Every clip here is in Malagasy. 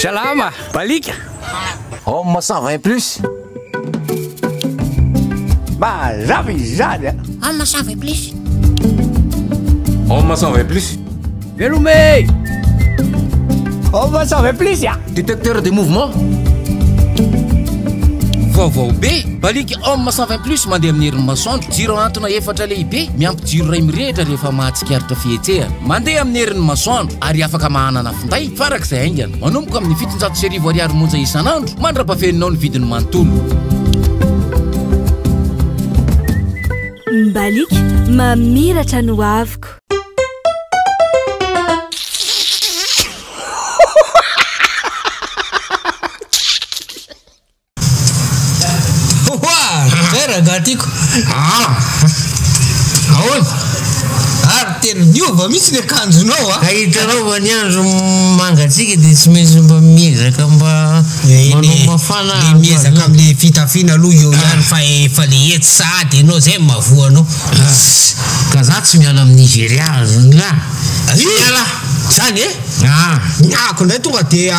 Salama! Balika! Homme 120 plus. Mazava izany a! Homme 120 plus. Homme 120 plus. Velome! Homme 120 plus a! Détecteur de mouvement. Vaovao be! Balika Homme 120 plus mandeha amin'ny herin'ny masoandro, jiro ahantona efatra lehibe miampy Jiro iray mirehitra rehefa mahatsikaritra fihetsehana. Mandeha amin'ny herin'ny masoandro ary afaka mahanana finday farak'izay haingana. Manomboka amin'ny fitonjato sy arivo ariary monja isan'andro mandra-pafeninao ny vidiny manontolo. Mbaliaka mamiratra ny hoaviko. Oa! Zay rangaha tiako. Ah! Ahoana? Ary tena niova mihitsy ny akanjonao a! Ka hitanao fa ny andro mangatsiaka dia tsy maintsy mba miezaka mba eh, manao mafana. Dia miezaka amin'ilay fitafiana aloha eo ah. ihany fa efa le etsy sahady ianao zay mavoa anao. Ah. Ka za tsy miala amin'ny Nigeria zany la. Tsy miala. Zany e? Ah. Ny ako ndray tonga dia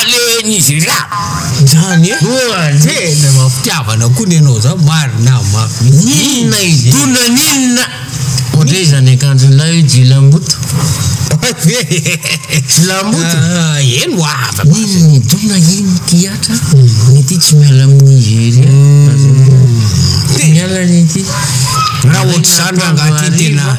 alehan'izy ireo zany e! Oa tena mampitiavana koa ny anao zany marina mafy mihitsy! Inona i Dona n'inona? Ohatry iza ny akanjon'ilay jilamboto? Jilamboto? Eny oa afa base! Iny i Dona iny ty Atra ny ity tsy miala am Nigeria tazomina, tsy miala ny ity! Raha ohatr'izany rangahy ty tena.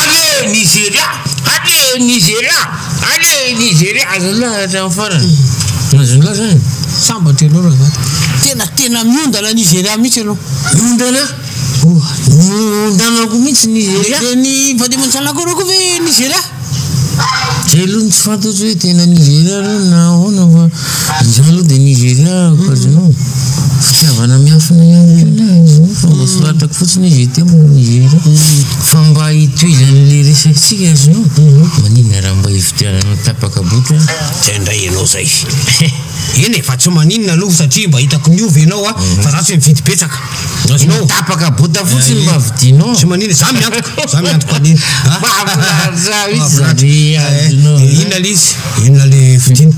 Allez Nigeria! Allez Nigeria! Allez Nigeria! Azon'ny lahy hatramin'ny farany? Azon'ny lahy zany? Sambatra ianao rangahy. Tena tena miondana Nigeria mihitsy ianao. Miondana? Oa, niondanako mihitsy Nigeria. Dia ny vady aman-janako ireo koa ve Nigeria? Zay aloha no tsy fantatro hoe tena Nigeria ireo na ahoana fa. Izany aloha dia Nigeria Occasion fitiavana miafina ihany koa ilay izy io fa mba soratako fotsiny izy teo moa Nigeria. Fa mba hitohizan'ilay resakintsika izy io, maninona raha mba hividianana tapaka boutre an? Zay ndray ianao zay. Eny e, fa tsy maninona aloha satria mba hitako miova ianao fa za tsy mifidy betsaka. Azonao. Tapaka bota fotsiny mba vidinao. Tsy manina, za miantoka, za miantoka an'iny. Mahafinaritra mihitsy zany azonao. Inona le izy? Inona le vidiny?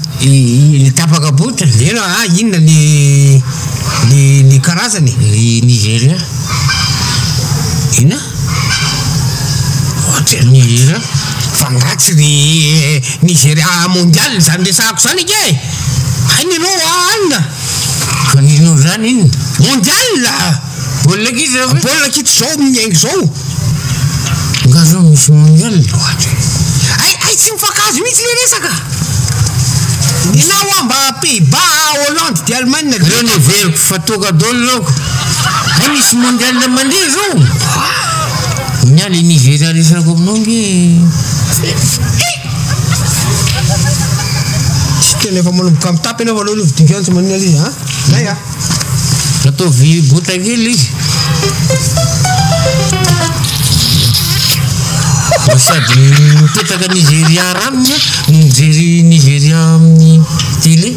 Le tapaka bota? Eny a, inona le le le karazany? Le Nigeria. Inona? Ohatry ny Nigeria. F'angaha tsy le Nigeria mondial zany resahako zany ange e? Hainareo alina. Maninona izany iny? Mondial! Baolina kitra izao ve? Baolina kitra izao miainga izao. Nga zao misy mondial loatra e. Hay hay tsy mifankahazo mihitsy le resaka. Ianao hoa mba Pays-Bas, Hollande dia Allemagne dia. Ireo no heveriko fa toaka dolo ireo. Hay misy mondial mandeha izao. Nga le Nigeria resako aminao nge e. Tena efa manomboka mitapy ianao aloha aloha vidiko ihany tsy maninona ilay izy a. Zay a. Ataovy bota kely izy. Mba sady mipetraka Nigeria ranona no mijery Nigeria amin'ny télé.